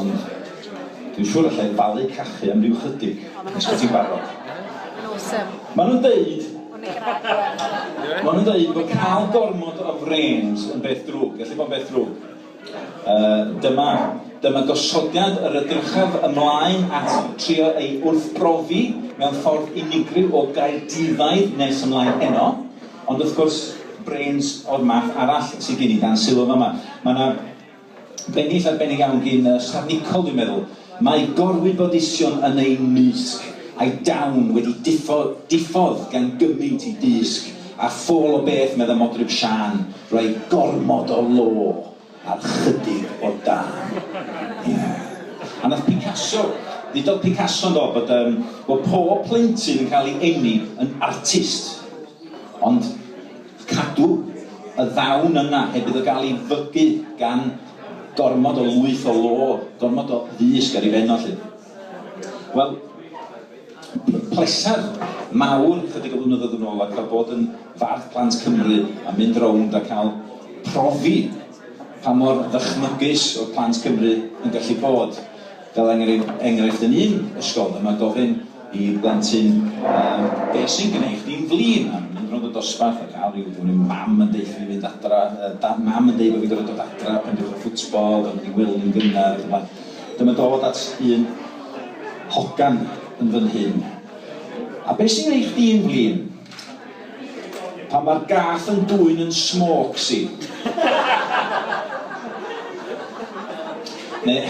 Ond dwi'n siŵr allai falu cachu am ryw chydig, os bo ti'n barod. Maen nhw'n deud, maen nhw'n deud bod cael gormod o frêns yn beth drwg, gallu bod yn beth drwg. Yy, dyma, dyma gosodiad yr edrychaf ymlaen at trio ei wrthbrofi mewn ffordd unigryw o Gaerdyddaidd nes ymlaen heno, ond wrth gwrs, brêns o'r math arall sy gin i dan sylw yn fama. Mae 'na, Bennill arbennig iawn gin y Stad Nicol dwi'n meddwl. Mae gorwybodaethion yn eu mysg, a'i dawn wedi diffo, diffodd gan gymynt i dysg a ffôl o beth medda Modryb Siân, roi gormod o lo ar chydig o dân. Ie. A nath Picasso, ddudodd Picasso yndo bod yym bod pob plentyn yn cael ei eni yn artist. Ond Cadw y ddawn yna heb iddo gael ei fygu gan gormod o lwyth o lo, gormod o ddysg ar ei ben o 'lly. Wel, pleser mawr chydig o flynyddoedd yn ôl a cael bod yn Fardd Plant Cymru a mynd rownd a cael profi pa mor ddychmygus oedd Plant Cymru yn gallu bod. Fel enghraifft yn un ysgol dyma gofyn i blentyn yym be sy'n gneud chdi'n flin? A mynd rownd y dosbarth a cael rhyw dwi'n mynd mam yn deutha fi fynd adra yy da- mam yn deud bo' fi'n gorfod dod adra pan dewch y ffwtbol gorfod mynd i wely yn gynnar ac yn y blaen. Dyma dod at un hogan yn fynhyn. A be sy'n gneud chdi'n flin? Pan mae'r gath yn dwyn yn smôcs i. Neu,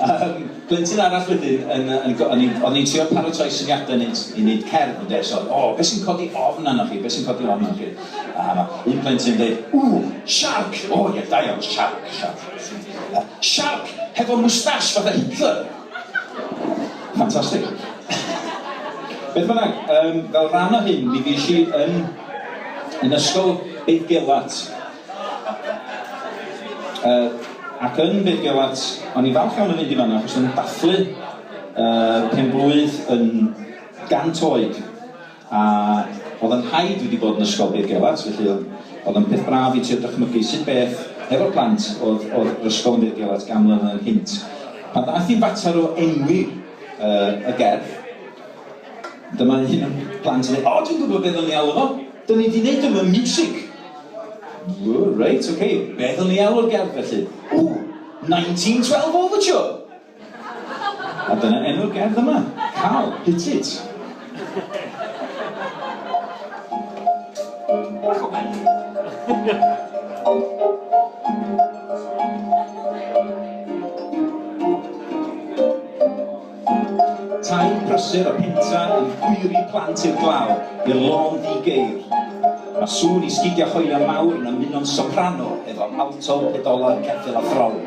um, blentyn arall wedyn, yn, yn, yn, o'n i'n trio paratoi syniadau wneud, i wneud cerdd, ynde, so, o, oh, beth sy'n codi ofn arnoch chi, beth sy'n codi ofn arnoch chi? A ma, un plentyn yn dweud, ww, siarc, o, oh, ie, yeah, da iawn, siarc, siarc. Uh, siarc, hefo mwstash, fatha Hitler. Ffantastig. Beth bynnag, um, fel rhan o hyn, mi fues i yn, yn ysgol Beidgelat. Uh, ac yn Beidgelat, o'n i falch iawn yn mynd i fanna, achos o'n i'n dathlu uh, pen blwydd yn gant oed. A oedd yn rhaid fi di bod yn ysgol Big Gelart, felly oedd oedd yn peth braf i trio dychmygu sut beth hefo'r plant oedd oedd yr ysgol yn Big Gelart gan mlynedd yn nghynt. Pan ddaeth i fater o enwi yy y gerdd, dyma un o'n plant yn dweud, 'O, dwi'n gwybod be ddylwn i alw fo, 'da ni di neud o mewn miwsig'. Ww, reit, ok, be ddylwn i alw'r gerdd felly? Ww, 1912 Overture! A dyna enw'r gerdd yma, Cal, Hit It! Bach o Tair prysur a pentra yn hwyru plant i'r glaw, i'r lôn ddi-geir. Mae sŵn i sgidiau hoelion mawr yn ymuno'n soprano efo alto, pedola, ceffyl a throl.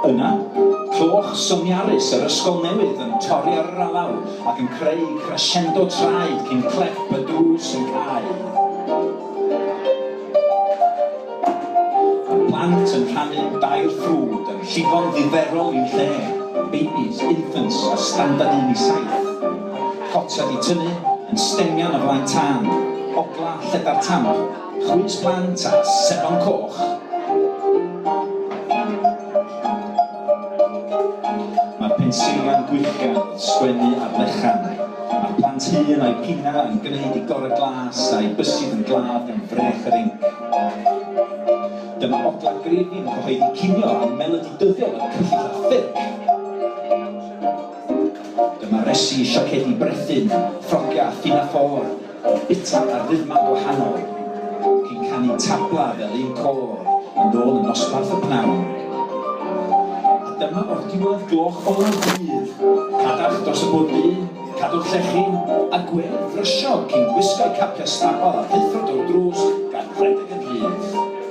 Yna, clywch syniarus yr ysgol newydd yn torri ar yr alaw ac yn creu crescendo traed cyn clep y drws yn cau. Mae plant yn rhannu dail ffrwd yn llifo'n ddiddferol i'w lle, babies, infants a standard un i saith. Potiau di tynnu yn stengian o flaen tân, ogla, lledar tanol, chwys plant a sebon coch. Mae'r pensiliau'n gwyllgan wrth sgwennu ar lechan. Mae'r plant hŷn a'u pina yn gwneud i gorau glas a'u bysyd yn glaf gan frech yr inc. Dyma ogla Grevin yn cyhoeddi cinio a melodi dyddiol yn cyllyll a ffyrc. Dyma resi, siacedi, brethyn, ffrogia, phinaffôr, bita ar rythmau gwahanol. Cyn canu tabla fel un côr yn ôl yn nosbarth y pnawn. A dyma o'r diwedd gloch olaf dydd, cadarch dros y bwrdd du, cadw'r llechyn, a gwên frysio cyn gwisgo'u capiau stabal a rhuthro drwy'r drws gan redeg yn rhydd.